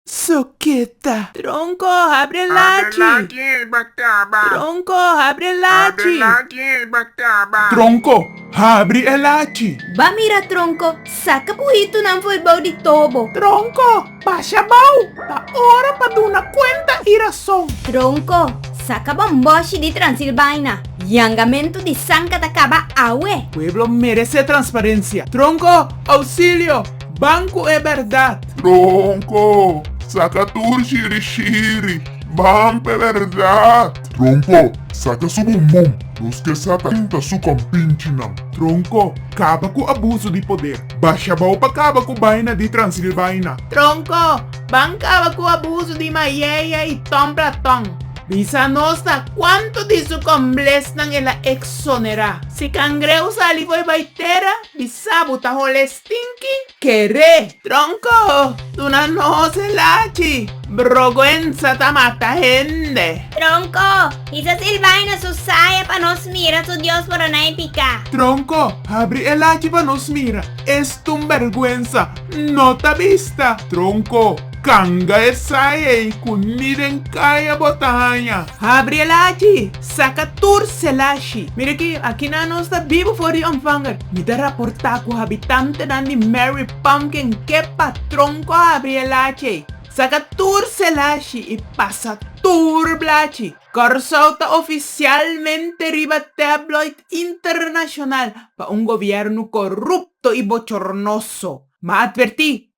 Soketa. Tronko, habri e lachi. Habri e lachi en ei ba kaba. Tronko, habri e lachi. Habri e lachi en ei ba kaba. Tronko, habri e lachi. Ba mira Tronko, saka bu hitunan for bou di tobo. Tronko, basha bou, ta ora pa duna kuenta i rason. Tronko, saka bon boshi di Transilbaina. Yangamentu di sanka ta kaba awe. Pueblo merese transparensia. Tronko, ousilio. Ban cu e berdad. Tronco, saca tur shiri shiri. Ban p'e berdad. Tronco, saca su bum bum. Nos ke sa kanta su compinchinan. Tronco, caba cu abuso di poder. Basha bao pa caba cu baina di Transilvaina. Tronco, ban caba cu abuso di mayeya y ton platon. Bisa nos ta cuanto di su comblesnan el a exonera. Si cangreu sali fo'i bai tera, bisa bo ta hole Tinki kere tronko duna nos e lachi. Brogwensa ta mata hende. Tronko, hisa sil bai na su saya pa nos mira su dios por a nai piká. Tronko, habri e lachi pa nos mira es tun bergwensa no ta bista. Tronko, kanga e saya ei ku ni den kaya bo ta haña. Habri e lachi, Saka tur selashi. Mira aki, akinan nos ta biba for di ontvanger. Mi ta raportá ku habitantenan di Mary Pumpkin ke patron ku a abri e lachi ei. Saka tur selashi i pasa tur blachi. Kòrsou ta ofisialmente riba tabloid internashonal pa un gobièrnu korupto i bochornoso. M'a atvertí,